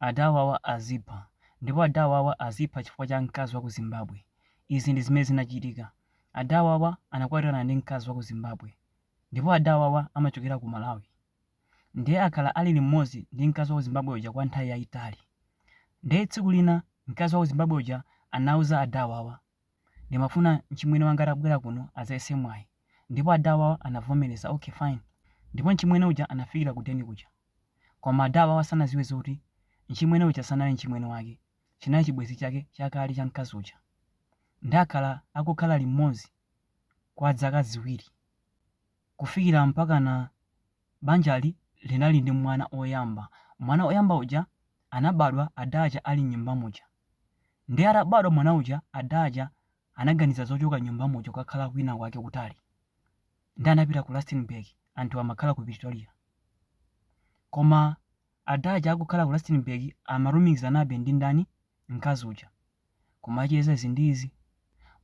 Adawawa azipha ndipo adawawa azipha chifukwa cha mkazi wa ku Zimbabwe. Izi ndi zimene zinachitika. Adawawa anakwatirana ndi mkazi wa ku Zimbabwe ndipo adawawa amachokera ku Malawi. Ndiye akhala ali limodzi ndi mkazi wa ku Zimbabwe uja kwa nthawi yayitali. Ndiye tsiku lina mkazi wa ku Zimbabwe uja anauza adawawa, ndimafuna mchimwene wanga atabwera kuno adzayese mwayi ndipo adawawa anavomereza, okay fine. Ndipo mchimwene uja anafikira ku deni kuja. Koma adawawa sanaziwe zoti mchimwene uja sanali mchimwene wake chinali chibwezi chake chakale cha mkazi uja nde akhala akukhala limodzi kwa dzaka ziwiri kufikira mpakana banjali linali ndi mwana oyamba mwana oyamba uja anabadwa Adaja ali mnyumba muja nde atabadwa mwana uja Adaja anaganiza zochoka m'nyumbamo kukakhala kwinakwake kutali. Ndiye anapita ku Rustenburg, anthu amakhala ku Pretoria. Koma ada aja akukhala ku Rustenburg amalumikizanabe ndi ndani? Mkazi uja. Kumacheza izi ndi izi.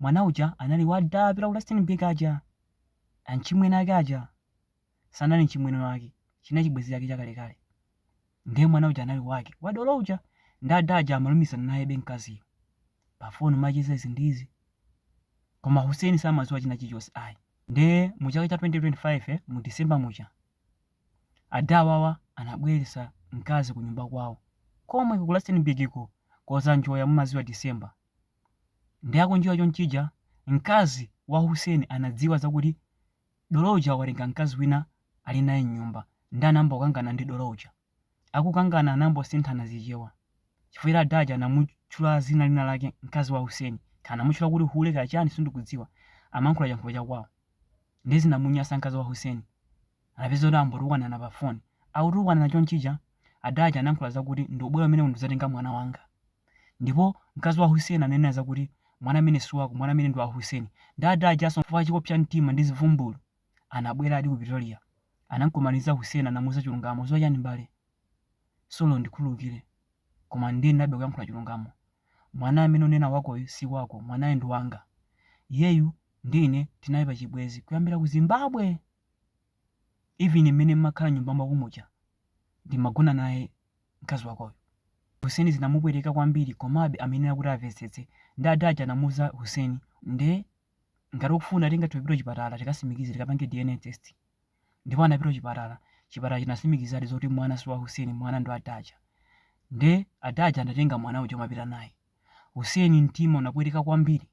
Mwana uja anali wa ada apita ku Rustenburg aja, amchimwene ake aja. sanali mchimwene wake, chinali chibwenzi chake chakalekale. Ndiye mwana uja anali wake, wa dolo uja. Ndiye ada aja amalumikizana nayebe mkaziyo. Pafoni umacheza izi ndi izi. Koma Hussein samadziwa china chilichonse ayi. Ndiye mu chaka cha 2025 mu December muja, ada awawa anabweretsa mkazi ku nyumba kwawo komwe ku Rustenburgko kodzanjoya, mumadziwa December. Ndiye akunjoya chonchija, mkazi wa Hussein anadziwa zakuti Dolo uja watenga mkazi wina ali naye m'nyumba nde anayamba kukangana ndi dolo uja. Akukangana anangosinthana zichewa chifukwa ada aja anamutchula zina lina lake mkazi wa Hussein kaya anamutchula kuti hule kaya chani sindikudziwa amayankhula chiyankhulo cha kwawo nde zinamunyasa mkazi wa Hussein anapeza kuti angotukwanana pa phone. Akutukwanana chonchija. Ada aja anayankhula zakuti ndikubwera kumeneko ndidzatenga mwana wanga. Ndipo mkazi wa Hussein ananena zakuti mwana amene si wako, mwana amene ndi wa Hussein. Nde ada ajanso chifukwa chopsa mtima ndi zivumbulu, anabweradi ku Pretoria. Anamkumaniza Hussein anamuuza chilungamo. Udziwa chani m'bale? Sorry, undikhululukire. Koma ndiyenerabe kuyankhula chilungamo. Mwana amene unena wakoyu si wako, mwanayu ndi wanga. Iyeyu ndi ine tinali pa chibwenzi kuyambira ku Zimbabwe! even mmene mmakhala nyumba mwako muja ndimagona naye mkazi wakoyo. Hussein zinamupweteka kwambiri komabe amayenera kuti avetsetse nde ada aja anamuuza Hussein nde ngati ukufuna tingathe kupita kuchipatala tikasimikize tikapange DNA test. Ndipo anapita kuchipatala, chipatala chinasimikizadi zoti mwana si wa Hussein mwana ndi wa ada aja. Nde ada aja anatenga mwana uja umapita naye. Hussein mtima unapweteka kwambiri.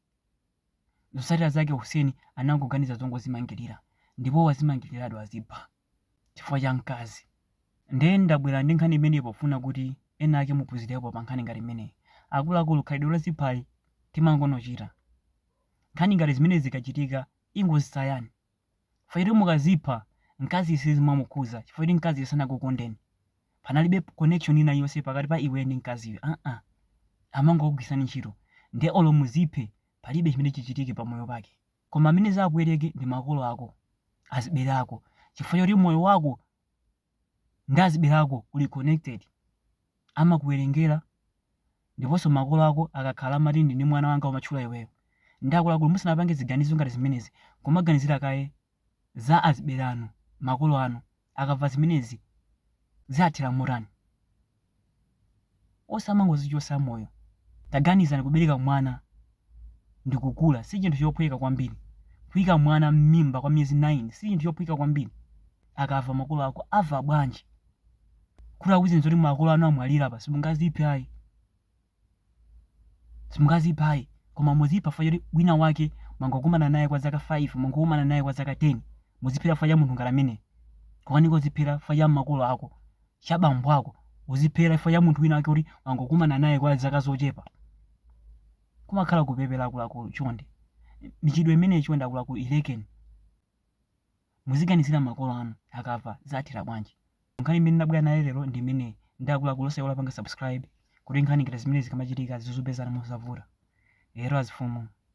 Zotsatira zake Hussein anangoganiza zongozimangilira ndipo wazimangiliradi wazipha chifukwa cha mkazi. Nde ndabwera ndi nkhani imeneyi pofuna kuti ena ake muphunzirepo pa nkhani ngati imeneyi. Akuluakulu khalidwe loziphali timangonochita. Nkhani ngati zimenezi zikachitika ingozisiyani Chifukwa choti mukazipha, mkaziyo sizimamukhuza chifukwa choti mkaziyo sanakukondeni. Panalibe connection ina iliyonse pakati pa iweyo ndi mkaziyo aa. Amangokugwiritsani ntchito. Ndiye olo muziphe, palibe chimene chichitike pa moyo wake. Koma amene zawapweteke ndi makolo ako, azibale ako chifukwa choti moyo wako. ndi azibale ako uli connected amakuwerengera ndiponso makolo ako akakhala amati ndili ndi mwana wanga kumatchula iweyo nde akuluakulu musanapange ziganizo ngati zimenezi kumaganizira kaye za azibale anu makolo anu akamva zimenezi ziwathera motani osamangozichotsa moyo taganizani kubereka mwana ndikukula sichinthu chophweka kwambiri kuika mwana mmimba kwa miyezi 9 sichinthu chophweka kwambiri akamva makolo ako amva bwanji kuti akuuzeni zoti makolo anu amwalira apa simungaziphe ayi simungaziphe ayi koma muzipha fa choti wina wake mwangokumana naye kwa zaka 5 mwangokumana naye kwa zaka 10 muziphera fa cha munthu ngati ameneyo kukanika kuziphera fa cha makolo ako cha bambo ako uziphera fa cha munthu wina wake kuti mwangokumana naye kwa zaka zochepa kumakhala kupepera akuluakulu chonde michitidwe imeneyi chonde akuluakulu ilekeni Muziganizira makolo anu akamva ziwathera bwanji. Nkhani imene ndabwera nayo lero ndi imeneyi nde akuluakulu osaiwala kupanga subscribe kuti nkhani ngati zimenezi zikamachitika zizikupezani mosavuta. Lero azifumu.